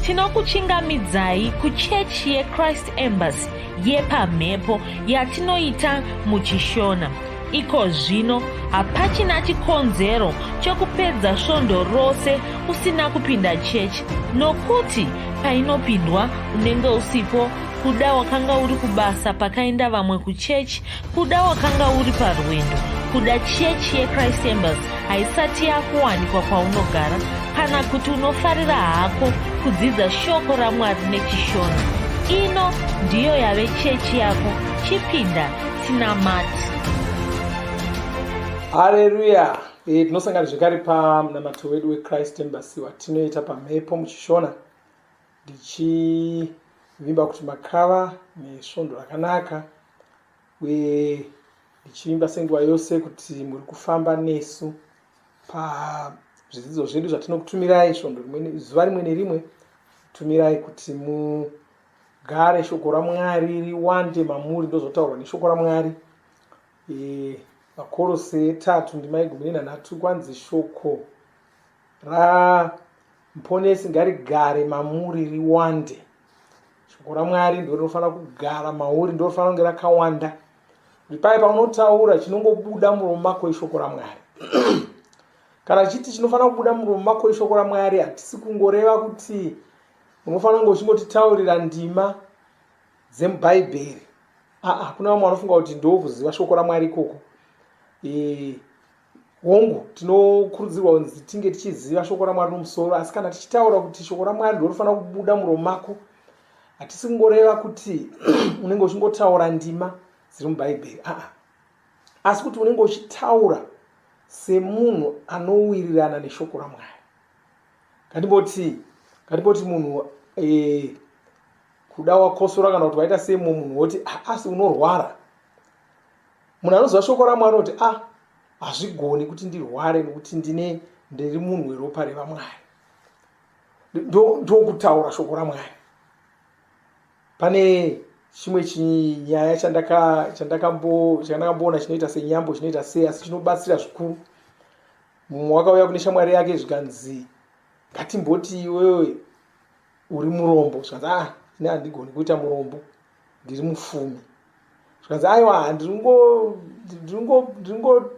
tinokuchingamidzai kuchechi yechrist embassy yepamhepo yatinoita muchishona iko zvino hapachina chikonzero chokupedza svondo rose usina kupinda chechi nokuti painopindwa unenge usipo kuda wakanga uri kubasa pakaenda vamwe kuchechi Kuda wakanga uri parwendo, kuda chechi yechrist embers haisati yakuwanikwa kwaunogara kana kuti unofarira hako kudzidza shoko ramwari nechishona ino ndiyo yave chechi yako chipinda tinamati hareruya e, tinosangana zvekare pamunamato wedu wechrist embers watinoita pamhepo muchishona ndichivimba kuti makava nesvondo rakanaka uye ndichivimba senguva yose kuti muri kufamba nesu pazvidzidzo zvedu zvatinokutumirai svondo rimwe zuva rimwe nerimwe tumirai kuti mugare shoko ramwari riwande mamuri ndozotaurwa neshoko ramwari e, vakorose etatu ndimai gumi nenhanhatu kwanzi shoko ramuponesi ngarigare mamuri riwande shoko ramwari ndo rinofanira kugara mauri ndo rinofanira kunge rakawanda ripai paunotaura chinongobuda muromo mako ishoko ramwari kana chiti chinofanira kubuda muromo mako ishoko ramwari hatisi kungoreva kuti unofanira kunge uchingotitaurira ndima dzemubhaibheri aa kuna vamwe vanofunga kuti ndokuziva shoko ramwari ikoko e, hongu tinokurudzirwa kunzi tinge tichiziva shoko ramwari nomusoro asi kana tichitaura kuti shoko ramwari ndorofanira kubuda muromo mako hatisi kungoreva kuti unenge uchingotaura ndima dziri mubhaibheri aa asi kuti unenge uchitaura semunhu anowirirana neshoko ramwari kandiboti kandiboti munhu e, kuda wakosora kana kuti waita semo munhu woti asi unorwara munhu anoziva shoko ramwari kuti a ah, hazvigoni kuti ndirware nekuti ndine ndiri munhu weropa revamwari ndokutaura shoko ramwari pane chimwe chinyaya chandakamboona chinoita senyambo chinoita sei asi chinobatsira zvikuru mumwe wakauya kune shamwari yake zvikanzi ngatimboti iwewe uri murombo zvikanzi a ah, ne handigoni kuita murombo ndiri mufumi zvikanzi aiwa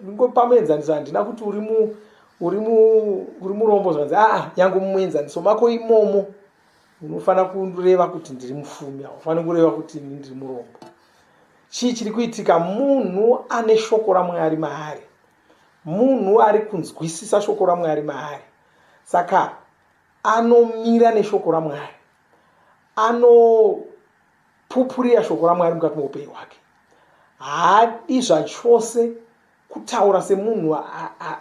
ndingopa muenzaniso handina kuti uri mu uri mu uri murombo zvikanzi aa yangu muenzaniso mako imomo unofanira kureva kuti ndiri mufumi haufaniri kureva kuti ini ndiri murombo chii chiri kuitika munhu ane shoko ramwari maari munhu ari kunzwisisa shoko ramwari maari saka anomira neshoko ramwari anopupurira shoko ramwari mukati meupenyu hwake haadi zvachose kutaura semunhu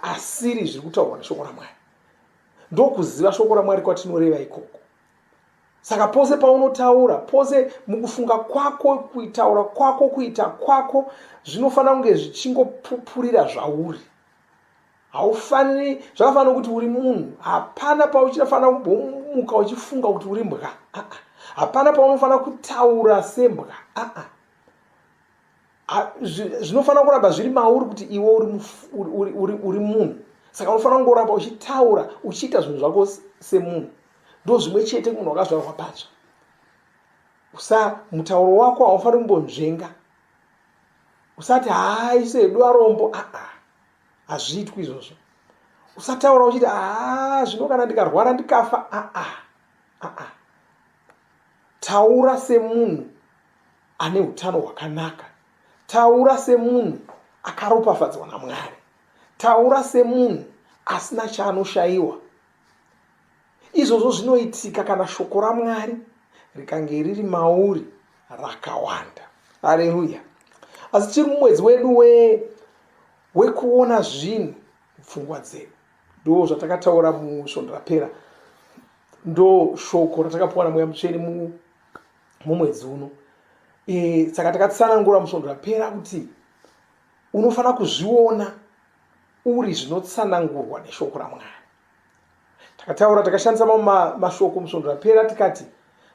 asiri zviri kutaurwa neshoko ramwari ndokuziva shoko ramwari kwatinoreva ikoko saka pose paunotaura pose mukufunga kwako kuitaura kwako kuita kwako zvinofanira kunge zvichingopupurira zvauri haufaniri zvakafanira kuti uri munhu hapana pauchinofanira kumbomuka uchifunga kuti uri mbwa ah, ah. hapana paunofanira kutaura sembwa ah, zvinofanira kuramba zviri mauri kuti iwe uri munhu saka unofanira kungoramba uchitaura uchiita zvinhu zvako semunhu ndo zvimwe chete munhu wakazvarwa patsva usa mutauro wako haufaniri kumbonzvenga usati haa isedu arombo aa ah, ah. hazviitwi izvozvo usataura uchiti aa zvino kana ndikarwara ndikafa aa aa taura semunhu ane utano hwakanaka taura semunhu akaropafadzwa namwari taura semunhu asina chaanoshayiwa Izvozvo zvinoitika kana shoko raMwari rikange riri mauri rakawanda. Haleluya! Asi tiri mumwedzi wedu we wekuona zvinhu mupfungwa dzedu. Ndo zvatakataura musvondo rapera, ndo shoko ratakapiwa naMweya Mutsvene mumwedzi uno. E, saka e, takatsanangura musvondo rapera kuti unofanira kuzviona uri zvinotsanangurwa neshoko raMwari. takataura takashandisa mamwe mashoko musvondo rapera tikati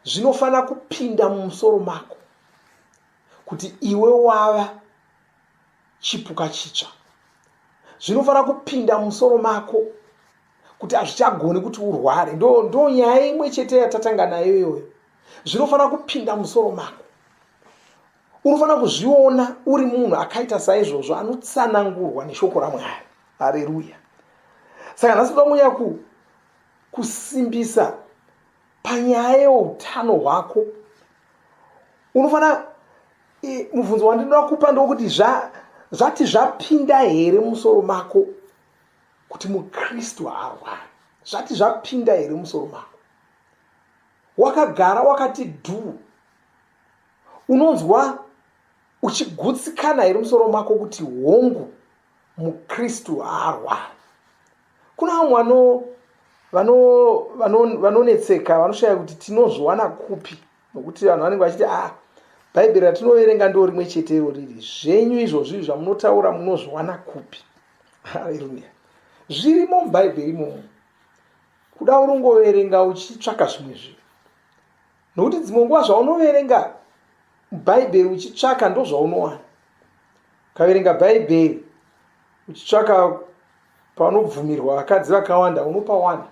zvinofanira kupinda mumusoro mako kuti iwe wava chipuka chitsva zvinofanira kupinda mumusoro mako kuti hazvichagoni kuti urware ndo ndo nyaya imwe chete yatatanga nayo iyoyo zvinofanira kupinda musoro mako unofanira kuzviona uri munhu akaita saizvozvo anotsanangurwa neshoko ramwari hareruya saka nhasi toda kunyanya ku kusimbisa panyaya yeutano hwako unofanira mubvunzo wandinoda kupa ndokuti zvati zvapinda here musoro mako kuti mukristu haarwari zvati zvapinda here musoro mako wakagara wakati dhuu unonzwa uchigutsikana here musoro mako kuti hongu mukristu haarwari kuna vamwe vano vanonetseka vanoshaya kuti tinozviwana kupi nokuti vanhu vanenge vachiti ah bhaibheri ratinoverenga ndo rimwe chete iro riri zvenyu izvozvi zvamunotaura munozviwana kupi haleluya zvirimo mubhaibheri imomo kuda urongoverenga uchitsvaka zvimwe zvinhu nokuti dzimwe nguva zvaunoverenga bhaibheri uchitsvaka ndozvaunowana ukaverenga bhaibheri uchitsvaka panobvumirwa vakadzi vakawanda unopawana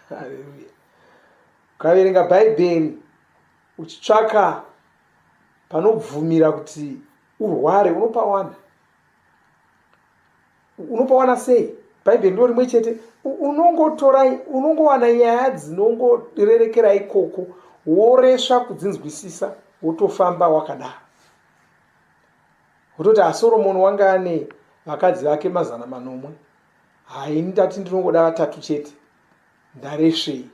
haleluya ukaverenga bhaibheri uchitsvaka panobvumira kuti urware unopawana unopawana sei bhaibheri ndo rimwe chete unongotorai unongowana nyaya dzinongorerekera ikoko woresva kudzinzwisisa wotofamba wakadaro wototi asoromoni wanga ane vakadzi vake mazana manomwe haini ndati ndinongoda vatatu chete ndaresvei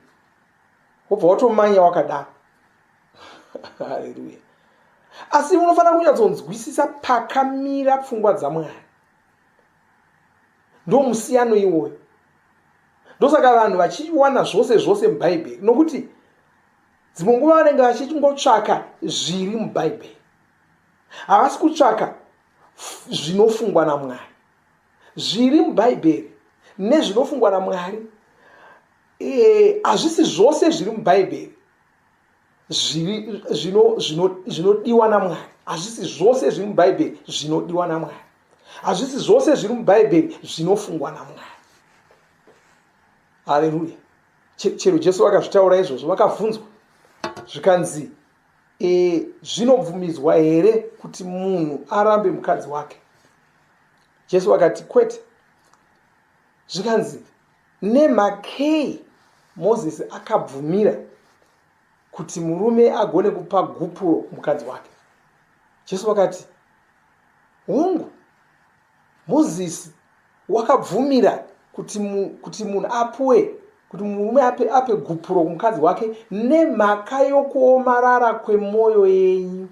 wobva watomanya wakadaro haleluya asi unofanira kunyatsonzwisisa pakamira pfungwa dzamwari ndo musiyano iwoyo ndosaka vanhu vachiwana zvose zvose mubhaibheri nokuti dzimwe nguva vanenge vachingotsvaka zviri mubhaibheri havasi kutsvaka zvinofungwa namwari zviri mubhaibheri nezvinofungwa namwari eh, hazvisi zvose zviri mubhaibheri zvinodiwa namwari hazvisi zvose zviri mubhaibheri zvinodiwa namwari hazvisi zvose zviri mubhaibheri zvinofungwa namwari hareruya chero jesu vakazvitaura izvozvo vakabvunzwa zvikanzi e, zvinobvumidzwa here kuti munhu arambe mukadzi wake jesu vakati kwete zvikanzi Nemhakei Mozisi akabvumira kuti murume agone kupa gupuro mukadzi wake? Jesu vakati, Hongu, Mozisi wakabvumira kuti, mu, kuti munhu apuwe kuti murume ape, ape gupuro kumukadzi wake nemhaka yokuomarara kwemwoyo yenyu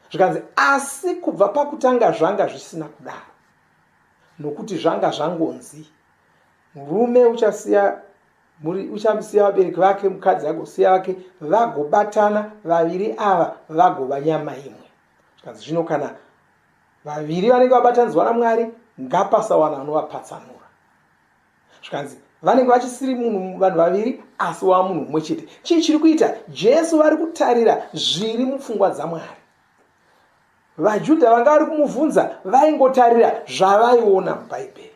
zvikanzi asi kubva pakutanga zvanga zvisina kudaro nokuti zvanga zvangonzi murume uchasiya muri uchasiya vabereki vake mukadzi agosiya vake vagobatana vaviri ava vagova nyama imwe zvikanzi zvino kana vaviri vanenge vabatanidzwa namwari ngapasawana anovapatsanura zvikanzi vanenge vachisiri munhu vanhu vaviri asi wava munhu mumwe chete chii chiri kuita jesu vari kutarira zviri mupfungwa dzamwari VaJudha vanga vari kumubvunza vaingotarira zvavaiona muBhaibheri.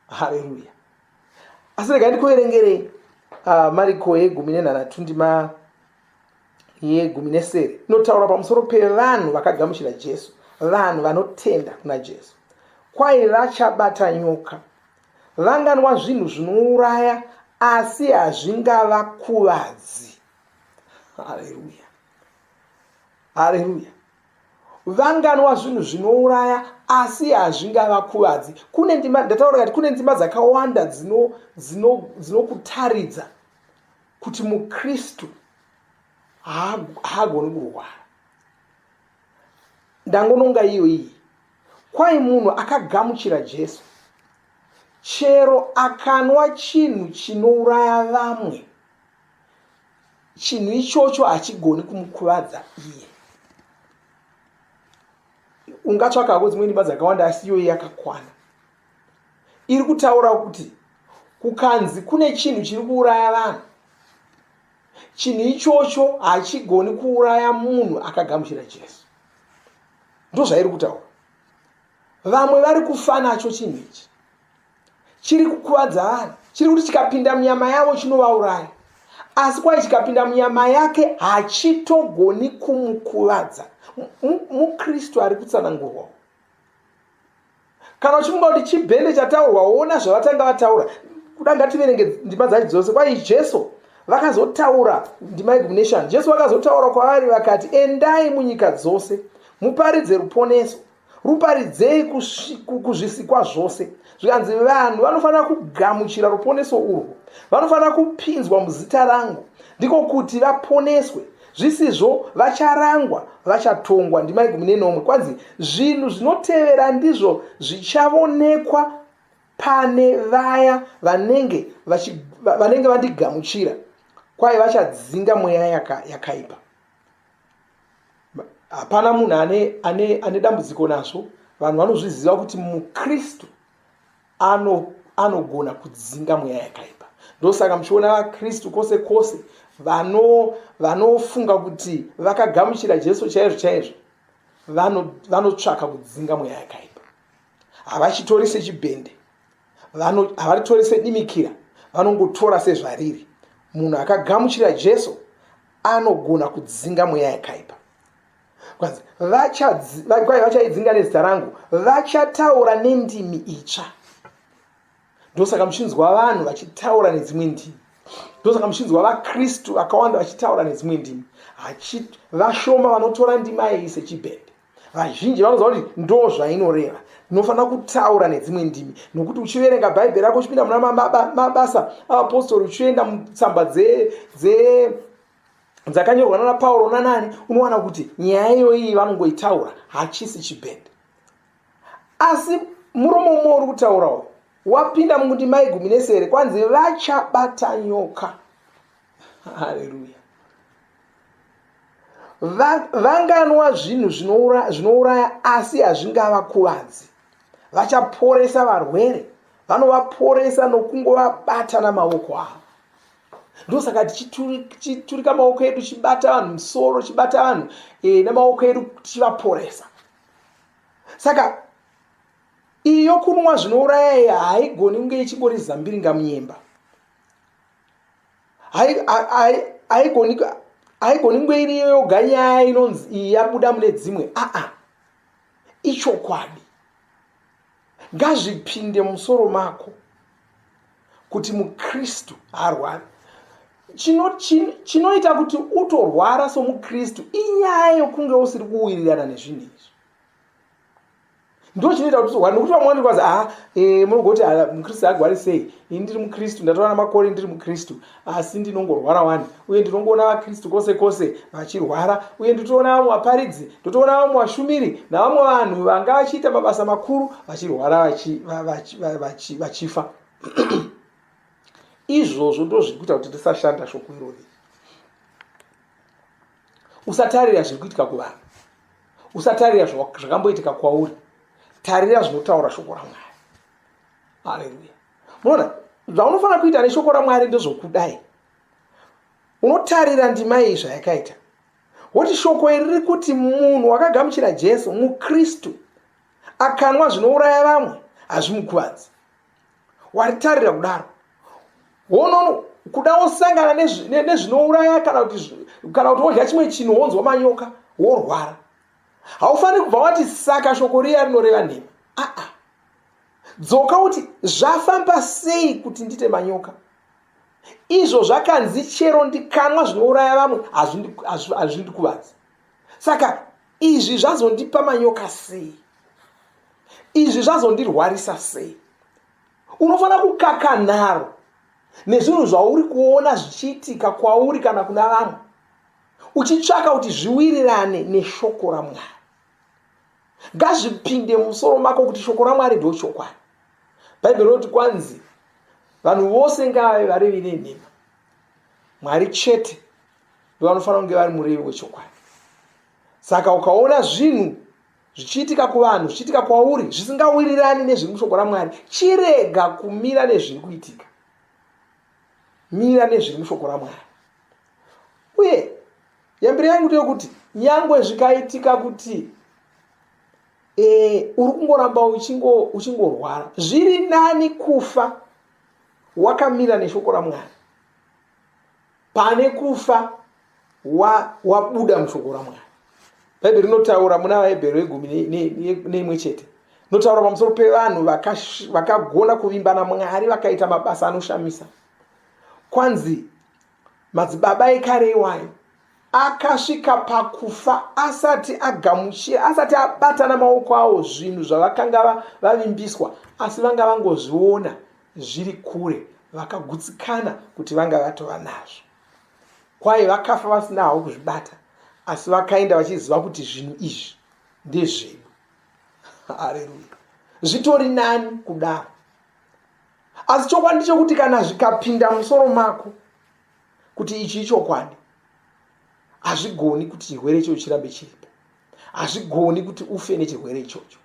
Haleluya. Asi rega ndikuverengerei uh, Mariko yegumi nenhanhatu ndima yegumi nesere inotaura pamusoro pevanhu vakagamuchira Jesu, vanhu vanotenda kuna Jesu. Kwai vachabata nyoka, vanganwa zvinhu zvinouraya asi hazvingavakuvadzi. Haleluya. Haleluya. Vanganwa zvinhu zvinouraya asi hazvingavakuvadzi. Kune ndima ndataura kuti kune ndima dzakawanda dzinokutaridza dzino, dzino kuti muKristu haagoni kurwara. Ndangononga iyo iyi. Kwai munhu akagamuchira Jesu chero akanwa chinhu chinouraya vamwe chinhu ichocho hachigoni kumukuvadza iye ungatsvaka hako dzimwe nyimba dzakawanda asi iyoyi yakakwana iri kutaura kuti kukanzi kune chinhu chiri kuuraya vanhu chinhu ichocho hachigoni kuuraya munhu akagamuchira jesu ndozvairi kutaura vamwe vari kufanacho chinhu ichi chiri kukuvadza vanhu chiri kuti chikapinda munyama yavo chinovauraya asi kwai chikapinda munyama yake hachitogoni kumukuvadza mukristu ari kutsanangurwawo kana uchifunga kuti chibhende chataurwa woona zvavatanga vataura kuda ngativerenge ndima dzacho dzose kwai jesu vakazotaura ndima igumnation jesu vakazotaura kwavari vakati endai munyika dzose muparidze ruponeso ruparidzei kuzvisikwa zvose zvikanzi vanhu vanofanira kugamuchira ruponeso urwo vanofanira kupinzwa muzita rangu ndiko kuti vaponeswe zvisizvo vacharangwa vachatongwa ndimai gumi nenomwe kwanzi zvinhu zvinotevera ndizvo zvichavoonekwa pane vaya vanenge vanenge vandigamuchira kwaye vachadzinga mweya yakaipa yaka hapana munhu ane, ane, ane dambudziko nazvo vanhu vanozviziva kuti mukristu ano anogona kudzinga mweya yakaipa ndosaka muchiona vakristu kwose kwose vanofunga vano kuti vakagamuchira jesu chaizvo chaizvo vanotsvaka vano kudzinga mweya yakaipa havachitori sechibhende havaritori sedimikira vanongotora sezvariri munhu akagamuchira jesu anogona kudzinga mweya yakaipa kwanzi vachaidzinga nezita rangu vachataura nendimi itsva ndosaka muchinzwa vanhu vachitaura nedzimwe ndimi ndosaka muchinzwa vakristu vakawanda vachitaura nedzimwe ndimi vashoma vanotora ndimi ayei sechibhende vazhinji vanoziva kuti ndo zvainoreva tinofanira kutaura nedzimwe ndimi nokuti uchiverenga bhaibheri rako uchipinda muna mabasa avapostori uchienda mutsamba dze, dze dzakanyorwa nana pauro nanani unowana kuti nyaya iyoiyi vanongoitaura hachisi chibhende asi murume umwe uri kutaurawo wapinda mundima igumi nesere kwanzi vachabata nyoka haleluya vanganwa zvinhu zvinouraya asi hazvingavakuvadzi vachaporesa varwere vanovaporesa nokungovabata namaoko avo ndosaka tichiturika maoko edu tichibata vanhu musoro tichibata vanhu e, nemaoko edu tichivaporesa saka iyo kunwa zvinouraya haigoni kunge ichingori zambiringa munyemba haigoni haigoni kunge iri yoga nyaya inonzi iyi yabuda mune dzimwe aa ichokwadi ngazvipinde musoro mako kuti mukristu harwari chinoita kuti utorwara somukristu inyaya yokunge usiri kuwirirana nezvinhu izvi ndochinoita kuti tihware nokuti vamwe vanoti kwazi haa eh, munogoti ah, mukristu agwari sei ini ndiri mukristu ndatora namakore ndiri mukristu asi ndinongorwara wani uye ndinongoona vakristu kwose kwose vachirwara uye nditoona vamwe vaparidzi ndotoona vamwe vashumiri navamwe vanhu vanga vachiita mabasa makuru vachirwara vachifa izvozvo ndozviri kuita kuti tisashanda shoko irori usatarira zviri kuitika kuvanhu usatarira zvakamboitika kwauri tarira zvinotaura shoko ramwari haleluya munoona zvaunofanira kuita neshoko ramwari ndezvokudai unotarira ndima iyi zvayakaita woti shoko iri riri kuti munhu wakagamuchira jesu mukristu akanwa zvinouraya vamwe hazvimukuvadzi waritarira kudaro wonono kuda wosangana nezvinouraya kana kuti kana kuti wodya chimwe chinhu wonzwa manyoka worwara haufaniri kubva wati saka shoko riya rinoreva nhema aa dzoka kuti zvafamba sei kuti ndite manyoka izvo zvakanzi chero ndikanwa zvinouraya vamwe hazvindikuvadzi saka izvi zvazondipa manyoka sei izvi zvazondirwarisa sei unofanira kukaka nharo nezvinhu zvauri kuona zvichiitika kwauri kana kuna vamwe uchitsvaka kuti zviwirirane neshoko ramwari ngazvipinde musoro mako kuti shoko ramwari ndochokwadi bhaibheri rinoti kwanzi vanhu vose ngavave varevi nenhema mwari chete ndovanofanira kunge vari murevi wechokwadi saka ukaona zvinhu zvichiitika kuvanhu zvichiitika kwauri zvisingawirirani nezviri mushoko ramwari chirega kumira nezviri kuitika mira nezviri mushoko ramwari uye yambiro yangu ndeyokuti nyangwe zvikaitika kuti e, uri kungoramba uchingorwara uchingo zviri nani kufa wakamira neshoko ramwari pane kufa wabuda wa mushoko ramwari bhaibheri rinotaura muna vahebheri vegumi neimwe chete notaura pamusoro pevanhu vakagona kuvimba namwari vakaita mabasa anoshamisa kwanzi madzibaba ekare iwayo akasvika pakufa asati agamuchira asati abatana maoko awo zvinhu zvavakanga vavimbiswa asi vanga vangozviona zviri kure vakagutsikana kuti vanga vatova nazvo kwaye vakafa vasina havo kuzvibata asi vakaenda vachiziva kuti zvinhu izvi ndezvedu hareruya zvitori nani kudaro asi chokwadi chokuti kana zvikapinda musoro mako kuti ichi ichokwadi hazvigoni kuti chirwere ichocho chirambe chiripo hazvigoni kuti ufe nechirwere ichocho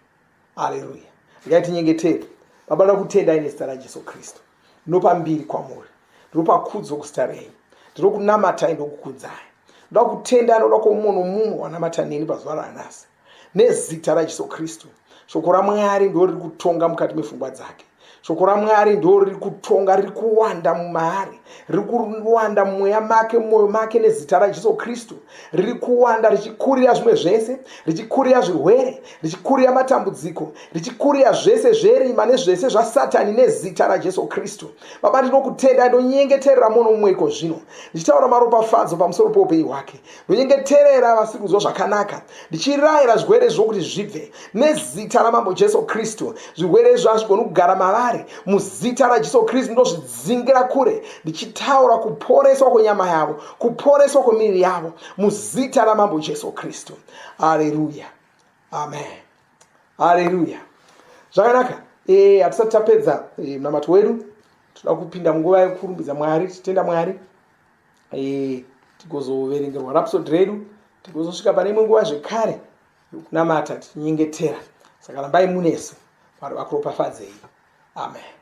aleluya regai tinyengetere baba ndoda kutendai nezita rajesu kristu ndinopa mbiri kwamuri ndinopa kudzo kuzita renyu ndinokunamatai ndokukudzai ndoda kutenda anoda kwamumwe nomumwe wanamata neni pazuva ranhasi nezita rajesu kristu shoko ramwari ndo riri kutonga mukati mefungwa dzake shoko ramwari ndo riri kutonga riri kuwanda mumaari riri kuwanda mumweya make mumwoyo make nezita rajesu kristu riri kuwanda richikurira zvimwe zvese richikurira zvirwere richikurira matambudziko richikurira zvese zverima nezvese zvasatani nezita rajesu kristu baba ndinokutendai ndonyengeterera muno mumwe iko zvino ndichitaura maropafadzo pamusoro poupenyu hwake ndonyengeterera vasiri kunzwa zvakanaka ndichirayira zvirwere izvo kuti zvibve nezita ramambo jesu kristu zvirwere izvo hazvigoni kugara mavari muzita rajesu kristu ndozvidzingira kure ndichitaura kuporeswa kwenyama yavo kuporeswa kwemiviri yavo muzita ramambo jesu kristu aleluya amen aleluya zvakanaka eh, hatisati tapedza eh, munamato wedu toda kupinda munguva yekurumbidza mwari tichitenda mwari e, tigozoverengerwa rapsod redu tigozosvika pane imwe nguva zvekare yokunamata tichinyengetera saka rambai munese mwari vakuropafadzei amen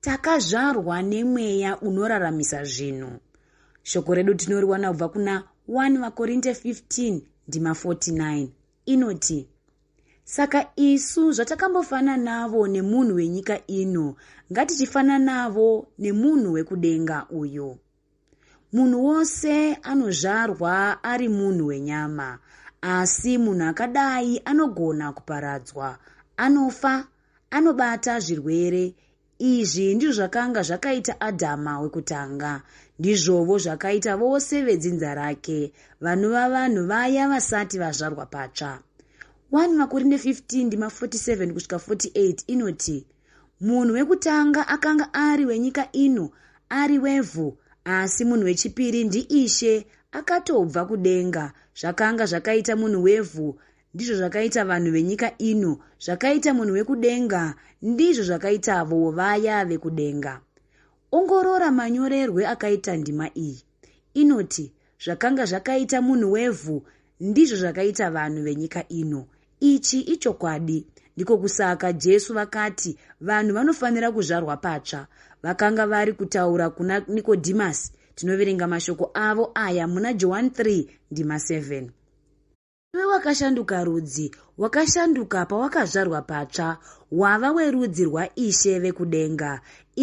Takazvarwa nemweya unoraramisa zvinhu. Shoko redu tinoriwana kubva kuna 1 vaKorinte 15 ndima 49 inoti saka isu zvatakambofananavo nemunhu wenyika ino ngatichifananavo nemunhu wekudenga uyu Munhu wose anozvarwa ari munhu wenyama, asi munhu akadai anogona kuparadzwa. Anofa, anobata zvirwere. Izvi ndizvo zvakanga zvakaita Adhama wekutanga. Ndizvovo zvakaita vose vedzinza rake, vanova vanhu vaya vasati vazvarwa patsva. 1 Makorinde 15 ndima 47 kusvika 48 inoti, Munhu wekutanga akanga ari wenyika ino, ari wevhu, asi munhu wechipiri ndiIshe, akatobva kudenga. Zvakanga zvakaita munhu wevhu, ndizvo zvakaita vanhu venyika ino, zvakaita munhu wekudenga, ndizvo zvakaitavo vaya vekudenga. Ongorora manyorerwe akaita ndima iyi. Inoti, Zvakanga zvakaita munhu wevhu, ndizvo zvakaita vanhu venyika ino. Ichi ichokwadi. Ndiko kusaka Jesu vakati vanhu vanofanira kuzvarwa patsva. Vakanga vari kutaura kuna Nikodhimasi. Tinoverenga mashoko avo aya muna Johani 3 ndima 7. Iwe wakashanduka rudzi, wakashanduka pawakazvarwa patsva, wava werudzi rwaIshe vekudenga.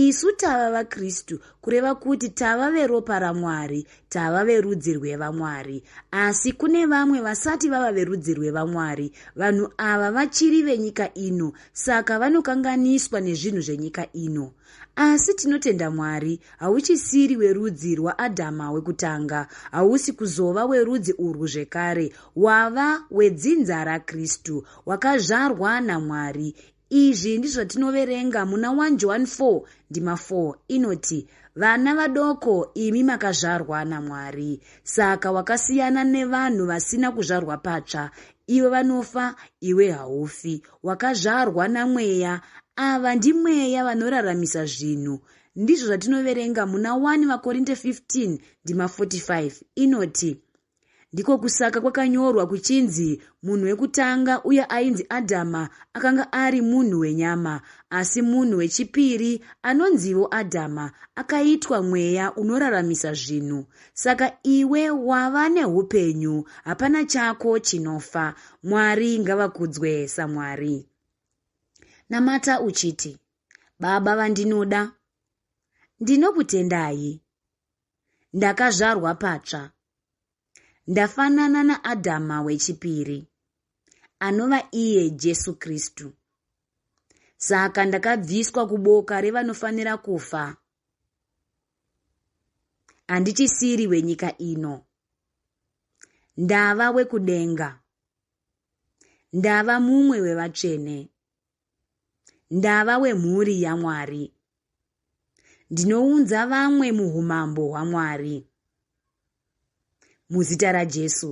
Isu tava vaKristu, kureva kuti tava veropa raMwari, tava verudzi rwevaMwari. Asi kune vamwe vasati vava verudzi rwevaMwari. Vanhu ava vachiri venyika ino, saka vanokanganiswa nezvinhu zvenyika ino. Asi tinotenda Mwari, hauchisiri werudzi rwaAdhama wekutanga, hausi kuzova werudzi urwu zvekare, wava wedzinza raKristu, wakazvarwa naMwari. Izvi ndizvo zvatinoverenga muna 1 Johani 4 ndima 4 inoti, Vana vadoko, imi makazvarwa naMwari. Saka wakasiyana nevanhu vasina kuzvarwa patsva, iwe vanofa iwe haufi wakazvarwa namweya ava ndimweya vanoraramisa zvinhu ndizvo zvatinoverenga muna 1 vakorinte 15 ndima 45 inoti ndiko kusaka kwakanyorwa kuchinzi munhu wekutanga uye ainzi adhama akanga ari munhu wenyama asi munhu wechipiri anonzivo adhama akaitwa mweya unoraramisa zvinhu Saka iwe wava neupenyu, hapana chako chinofa. Mwari ngavakudzwe saMwari. Namata uchiti, Baba vandinoda, ndinokutendai. Ndakazvarwa patsva. Ndafanana naAdhama wechipiri, anova iye Jesu Kristu. Saka ndakabviswa kuboka revanofanira kufa handichisiri wenyika ino ndava wekudenga ndava mumwe wevatsvene ndava wemhuri yamwari ndinounza vamwe muumambo hwamwari muzita rajesu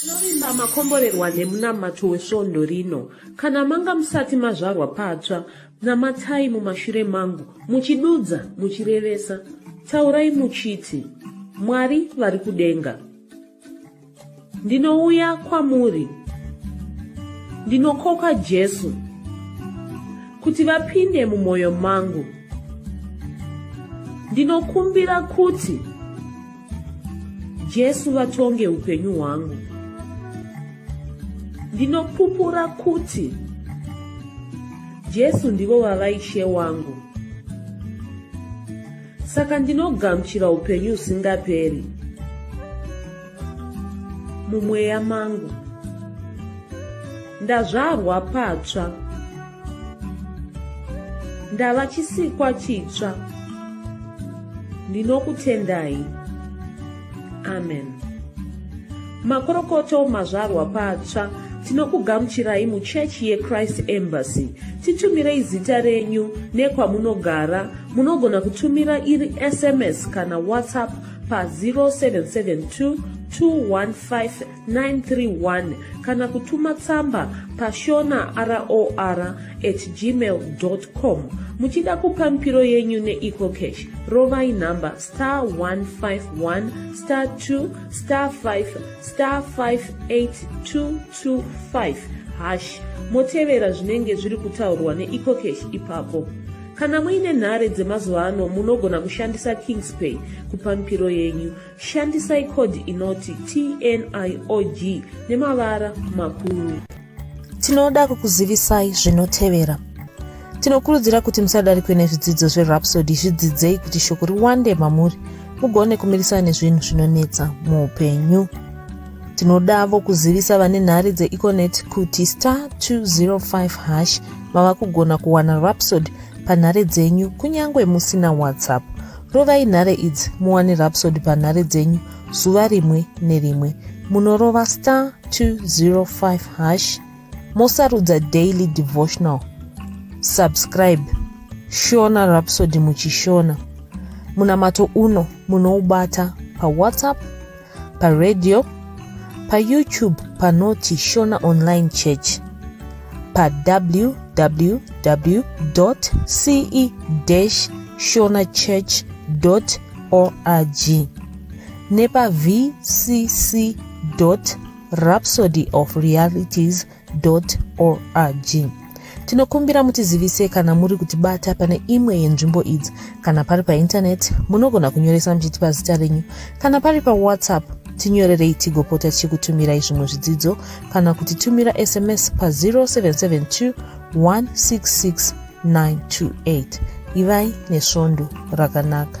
Tinovimba makomborerwa nemunamato wesvondo rino. Kana manga musati mazvarwa patsva, namatai mumashure mangu, muchidudza, muchirevesa. Taurai muchiti, Mwari vari kudenga. Ndinouya kwamuri. Ndinokoka Jesu kuti vapinde mumwoyo mangu. Ndinokumbira kuti Jesu vatonge upenyu hwangu. Ndinopupura kuti Jesu ndivo vava ishe wangu. Saka ndinogamuchira upenyu usingaperi mumweya mangu. Ndazvarwa patsva. ndava chisikwa chitsva ndinokutendai amen makorokoto mazvarwa patsva tinokugamuchirai muchechi yechrist embassy titumirei zita renyu nekwamunogara munogona kutumira iri sms kana whatsapp pa 0772 215 931 kana kutuma tsamba pashona roar at gmail com muchida kupa mipiro yenyu neecocash rovai nhamba star 151 star 2 star 5 star 58225 hash motevera zvinenge zviri kutaurwa neecocash ipapo kana muine nhare dzemazuva ano munogona kushandisa kingspay kupa mipiro yenyu Shandisai code inoti TNIOG nemavara makuru. Tinoda kukuzivisai zvinotevera. Tinokurudzira kuti musadarikwe nezvidzidzo zveRhapsody zvidzidzei kuti shoko riwande mamuri mugone kumirisana nezvinhu zvinonetsa muupenyu. Tinodavo kuzivisa vane nhari dzeEconet kuti star 205 hash mava kugona kuwana Rhapsody panhare dzenyu kunyange musina WhatsApp. Rovai nhare idzi muwane rapsod panhare dzenyu zuva rimwe nerimwe. Munorova star 205 hash mosarudza daily devotional. Subscribe Shona Rhapsody muchishona. Munamato uno munoubata paWhatsApp paradio payoutube panoti shona online church pawww ce shona church org nepavcc rhapsody of realities org tinokumbira mutizivise kana muri kutibata pane imwe yenzvimbo idzi kana pari paintaneti munogona kunyoresa muchitipa zita renyu kana pari pawhatsapp tinyorerei tigopota tichikutumirai zvimwe zvidzidzo kana kuti tumira sms pa0772 166 928 ivai nesvondo rakanaka